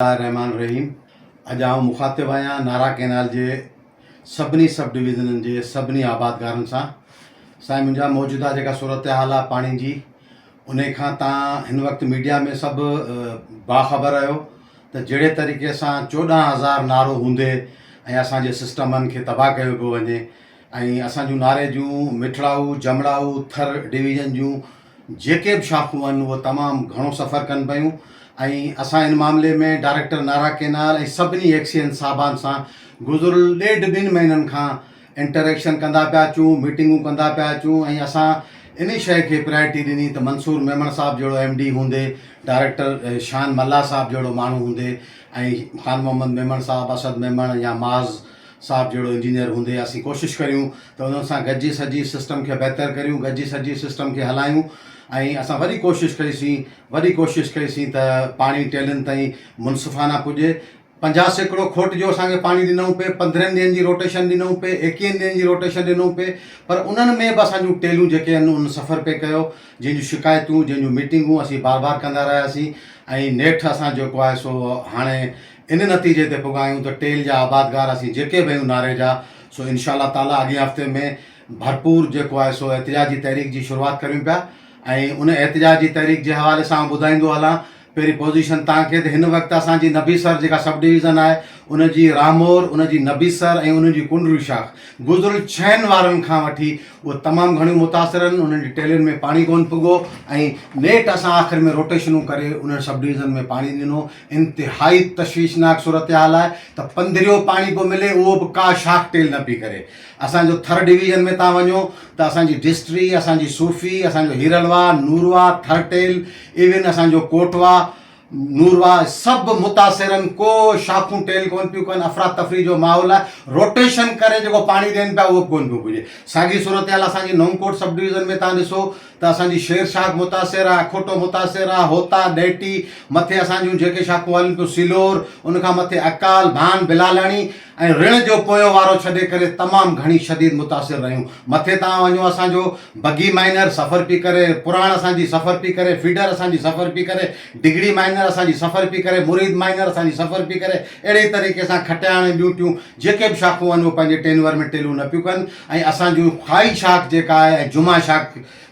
الله الرحمان الرحيم اڄ آئون مخاطب آهيان نارا ڪينال جي سڀني سب ڊويزنن جي سڀني آبادگارن سان سائين منهنجا موجوده جيڪا صورتحال آهي پاڻي جي ان کان تان هن وقت ميڊيا ۾ سڀ باخبر آهيو ته جهڙي طريقي سان چوڏهن هزار نارو هوندي ۽ اسان جي سسٽمن کي تباهه ڪيو پيو وڃي ۽ اسان جون ناري جون مٺڙائو جمڙائو ٿر ڊويزن جون جيڪي به شاخون آهن اهي تمام گهڻو سفر ڪن پيون ۽ اسان ان معاملي ۾ ڊائريڪٽر نارا ڪينال ۽ سڀني ايڪسيئن صاحبان سان گذريل ڏيڍ ٻن مهينن کان انٽريڪشن ڪندا پيا اچون ميٽنگون ڪندا پيا اچون ۽ اسان انهي شيء کي پرائرٽي ڏني ته منصور ميمڻ صاحب جهڙو ايم ڊي هوندي ڊائريڪٽر شان ملاح صاحب جهڙو ماڻهو هوندي ۽ خان محمد ميمڻ صاحب اسد ميمڻ يا معاذ صاحب جهڙو انجنيئر هوندي اسين ڪوشش ڪريون ته انهن سان گڏجي سڄي سسٽم کي بهتر ڪريون گڏجي سڄي سسٽم کي هلايون ۽ اسان وڏي ڪوشش ڪئي سين وڏي ڪوشش ڪئي سين ته پاڻي ٽيلن تائين منصفانه پڄي پنجاهه سيڪڙو کوٽ جو اسان کي پاڻي ڏنئون پئي پندرهن ڏينهن جي روٽيشن ڏنئون پئي ايڪيهن ڏينهن جي روٽيشن ڏنئون پئي پر انهن ۾ به اسان جون ٽيلون جيڪي آهن انهن سفر پئي ڪيو جنهن جون شڪايتون جنهن جون ميٽنگون اسين بار بار ڪندا رهياسين ۽ نيٺ اسان جيڪو آهي سو هاڻي ان نتيجي تي پڳا آهيون ته ٽيل جا آبادگار اسين جيڪي به آهيون ناري جا سو انشاء الله تعاليٰ اڳئين هفتي ۾ ڀرپور جيڪو آهي سو احتجاجي تحريڪ جي شروعات ڪريون پيا ۽ ان احتجاجي تحريڪ جي حوالي سان آئون ٻڌائيندو هلان پهرين پوزيشن تان کي ته هن وقت اسان جي نبيسر جيڪا سب ڊويزن آهي ان جي رامور ان جي نبيسر ۽ ان جي ڪنڊرو شاخ گذريل ڇهن وارن کان وٺي اهي تمام گهڻيون متاثر آهن انهن جي ٽيلين ۾ پاڻي ڪون پڳو ۽ نيٺ اسان آخر ۾ روٽيشنون ڪري انهن سب ڊويزن ۾ پاڻي ڏنو انتهائي تشويشناڪ صورتحال آهي ته پنڌريو پاڻي پيو ملي اهو به ڪا شاخ ٽيل نه پئي ڪري اسان جو ٿر ڊويزن ۾ تان وڃو ته اسان جي ڊسٽري اسان جي صوفي اسان جو هيرلوا نوروا ٿر ٽيل ايون اسان جو ڪوٽوا نوروا سڀ متاثرن ڪو شاخون ٽيل ڪون پيون ڪن افرا تفري جو ماحول آهي روٽيشن ڪري جيڪو پاڻي ڏين پيا اهو به ڪون پيو پڄي ساڳي صورتحال اسان جي نئون ڪوٽ سب ڊويزن ۾ تان ڏسو ته اسان جي شير شاخ متاثر آ، اکوٽو متاثر آ، هوتا، ڏهٽي، مٿي اسان جون جيڪي شاخون هلن پيون سيلور، ان کان مٿي اڪال، ڀان، بلالاڻي ۽ رڻ جو پويون وارو ڇڏي ڪري تمام گهڻي شديد متاثر رهيون. مٿي تان وڃو اسان جو بگي مائنر سفر پي ڪري، پراڻ اسان جي سفر پي ڪري، فيڊر اسان جي سفر پي ڪري، ڊگهڙي مائنر اسان جي سفر پي ڪري، مريد مائنر اسان جي سفر پي ڪري، اهڙي ئي طريقي سان کٽياڻ ۽ ٻيون ٽيون جيڪي به شاخون آهن اهي پنهنجي ٽينور ۾ ٽيلون نه پيون ڪن ۽ اسان جون خائي شاخ جيڪا آهي ۽ جمعه شاخ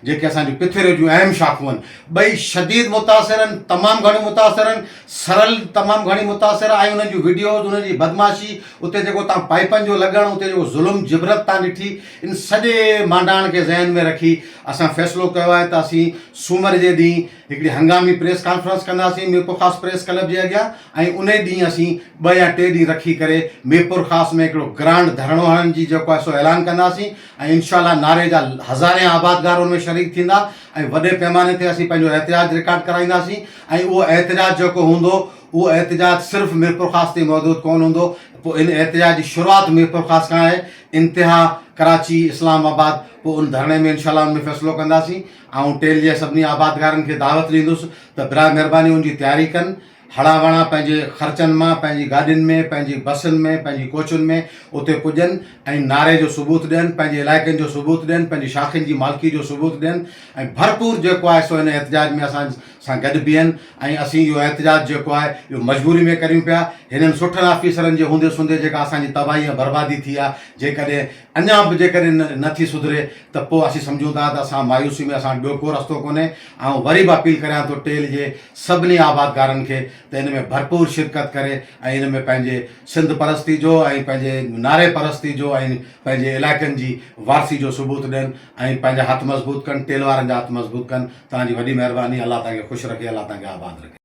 جيڪي اسان جون پٿيري جون اهم شاخون آهن ٻئي شديد متاثر آهن تمام گهڻيون متاثر آهن سرل تمام گهڻي متاثر آهي ۽ انهن جون وڊيوز انهن جي بدمعاشي اتي جيڪو تان پائپن جو لڳڻ اتي جيڪو ظلم جبرت تان ڏٺي ان سڄي مانڊاڻ کي ذهن ۾ رکي اسان فيصلو ڪيو آهي ته اسين سومر جي ڏينهن هڪڙي هنگامي پريس ڪانفرنس ڪنداسين ميرپورخاص پريس ڪلب جي اڳيان ۽ انهي ڏينهن اسين ٻه يا ٽي ڏينهن رکي ڪري ميرپورخاص ۾ هڪڙو گرانڊ ڌرڻو هڻڻ جي جيڪو آهي سو اعلان ڪنداسين ۽ انشاء الله نعري جا هزارين آبادگار ان ۾ شريڪ ٿيندا ۽ وڏي پيماني تي اسين پنهنجو احتجاج رڪارڊ ڪرائينداسين ۽ اهو احتجاج جيڪو هوندو اهو احتجاج صرف ميرپورخاص تي محدود ڪونه هوندو پوء ان احتجاج جي شروعات ميرپورخاص کان آهي انتها ڪراچي اسلام آباد پوء ان ڌرڻي ۾ انشاء الله ان ۾ فيصلو ڪنداسين. آئون ٽيل جي سڀني آبادگارن کي دعوت ڏيندس ته براء مھرباني ان جي تياري ڪن. ھڙا وڻا پنھنجي خرچن مان پنھنجي گاڏين ۾، پنھنجي بسن ۾، پنھنجي ڪوچن ۾ اتي پڄن ۽ نعري جو ثبوت ڏين، پنھنجي علائقن جو ثبوت ڏين، پنھنجي شاخين جي مالڪي جو ثبوت ڏين ۽ ڀرپور جيڪو آھي سو ان احتجاج ۾ اسان سان گڏ بيھن ۽ اسين اھو احتجاج جيڪو آھي اھو مجبوري ۾ ڪريون پيا. ھنن سٺن آفيسرن جي ھوندي سوندي جيڪا اسان جي تباھي ۽ بربادي ٿي آھي جيڪڏھن اڃا به جيڪڏهن نه ٿي سڌري ته پوء اسين سمجهون ٿا ته اسان مايوسي ۾ اسان وٽ ٻيو ڪو رستو ڪونهي. آئون وري به اپيل ڪريان ٿو ٽيل جي سڀني آبادگارن کي ته ان ۾ ڀرپور شرڪت ڪري ۽ ان ۾ پنهنجي سنڌ پرستي جو ۽ پنهنجي نعري پرستي جو ۽ پنهنجي علائقن جي وارثي جو ثبوت ڏين ۽ پنهنجا هٿ مضبوط ڪن ٽيل وارن جا هٿ مضبوط ڪن توهان جي وڏي مهرباني الله توهان کي خوش رکي الله توهان کي آباد رکي.